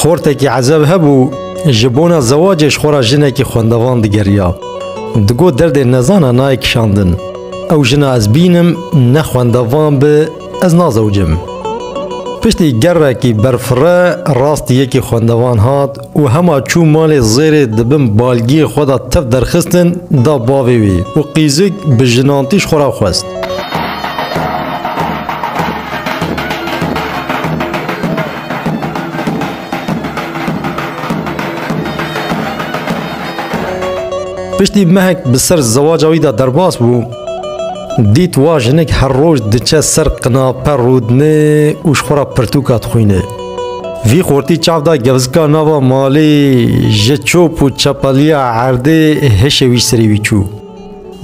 Xortekî ezev hebû ji bona zewacê ji xora jinekî xwendevan digeriya. Digo derdê nezana nayê kişandin. Ew jina ez bînim ne xwendevan bi ez nazewcim. Piştî gerekî berfirre rastî yekî xwendevan hat û hema çû malê Zêrê di bin balgiyê xwe de tev derxistin da bavê wî û qîzik bi jinantîş xwe re xwest. Piştî mehek bi ser zewaca wî de derbas bû, dît wa jinik her roj diçe ser qinape rûdinê û ji xwe re pirtûka dixwînê. Vî xortî çav da gevzika nava malê ji çop û çepeliya erdê hişê wî serî wî çû.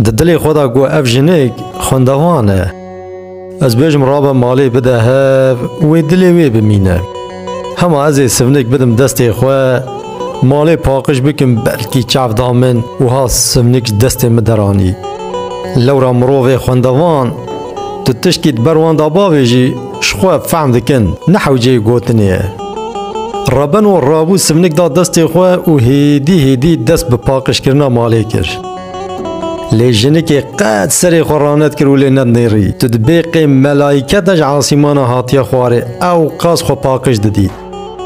Di dilê xwe da got ev jinik xwendevan e. Ez bêjim rabe malê bide hev wê dilê wê bimîne. Hema ez ê sivnik bidim destê xwe malê paqij bikim belkî çav da min wiha sivnik ji destê min deranî. Lewra mirovê xwendevan tu tiştî di ber wan da bavêjî Ji xwe fehm dikin ne hewceyê gotinê ye. Rebeno rabû sivnik da destê xwe û hêdî hêdî dest bi paqijkirina malê kir. Lê jinikê qet serê xwe ranet kir û lê nednêrî. Tu dibê qê melaîke de ji asîmana hatiye xwarê ewqas xwe paqij didî.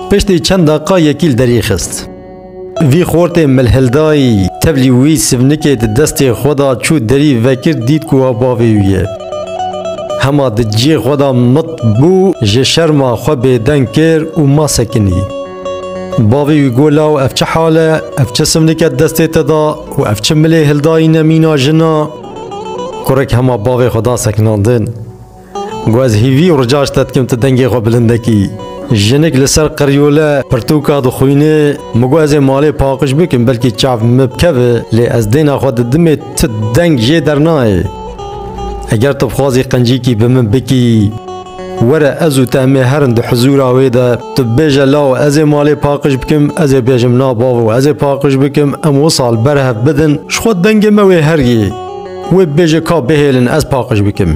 Piştî çend deqiqa yekî li derî xist. Vî xortê milhildayî, tevlî wî sivnikê di destê xwe da çû derî vekir dît ku wa bavê wî ye. Hema di cihê xwe da mit bû ji şerma xwe bêdeng kir û ma sekinî. Bavê wî got law ev çi hal e, ev çi sivnike di destê te da û ev çi milê hildayî ne mîna jin a? Kurek hema bavê xwe da sekinandin. Ku ez hîvî û rica ji te dikim tu dengê xwe bilinde kî. Jinik li ser qiryola pirtûka dixwîne, min got ez ê malê paqij bikim belkî çav min bikeve lê ez dêna xwe didimê tu deng jê dernayê. Eger tu bixwazî qencîkî bi min bikî were ez û te em ê herin di hizûra wê de tu bibêje law ez ê malê paqij bikim ez ê bêjim na bavo ez ê paqij bikim em wisa li ber hev bidin ji xwe dengê me wê heriyê. Wê bibêje ka bihêlin ez paqij bikim.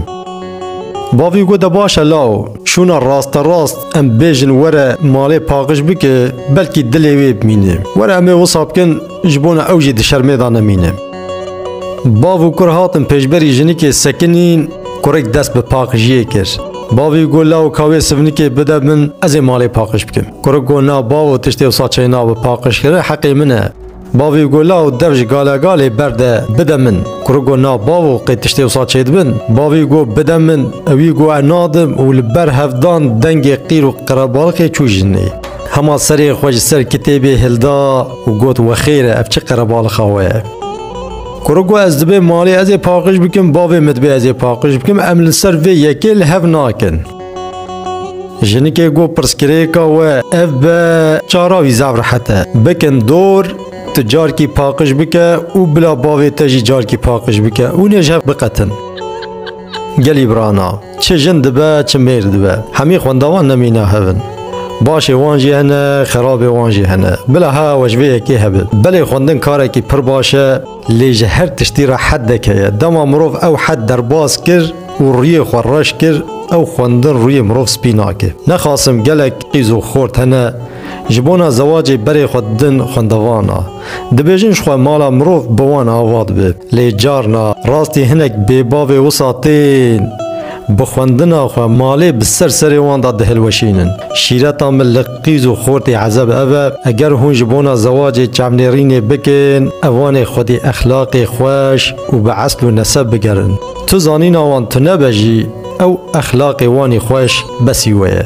Bavî got de baş e law, şûna rasterast em bêjin were malê paqij bike belkî dilê wê bimîne. Were em ê wisa bikin ji bona ew jî di şermê de nemîne. Bav û kur hatin pêşberî jinikê sekinîn, kurêk dest bi paqijiyê kir. Bavî got law ka wê sivnikê bide min ez ê malê paqij bikim. Kurik got na bavo tiştê wisa çêna bi paqijkirin heqê min e. Bavê gola û dev ji galegalê berde bide min. Kurik got na bavo qê tiştê wisa çêdibin? Bavê got bide min, ewî got ez nadim û li ber hev dan dengê qîr û qerebaliqê çû jinê. Hema serê xwe ji ser kitêbê hilda û got wexêr e ev çi qerebaliqa we ye. Kurik got ez dibê malê ezê paqij bikim bavê min dibê ezê paqij bikim em li ser vê yekê li hev nakin. Jinikê got pirsgirêka we ev be çara wî zaf rehet e. Bikin dor tu carkî paqij bike û bila bavê te jî carkî paqij bike û nê ji hev biqetin. Gelî brana, çi jin dibe çi mêr dibe. Hemî xwendawan nemîne hev in. Başê wan jî hene, xerabê wan jî hene. Bila hewa we ji vê yekê hebe. Belê xwendin karekî pir baş e. Lê ji her tiştî re hed deke ye. Dema mirov ew hed derbas kir û rûyê xwe reş kir, ew xwendin rûyê mirov spî nake. Nexasim gelek qîz û xort hene ji bona zewacê berê xwe didin xwendevana. Dibêjin jixwe mala mirov bi wan ava dibe. Lê carna rastî hinek bêbavê wisa tên bi xwendina xwe malê bi ser serê wan de dihilweşînin. Şîreta min li. Qîz û xortê ezeb ev e, eger hûn ji bona zewacê çavnêrînê bikin, evanê xwedî exlaqê xweş û bi esl û neseb bigerin. Tu zanîna wan tune be jî, ew exlaqê wanî xweş besî we ye.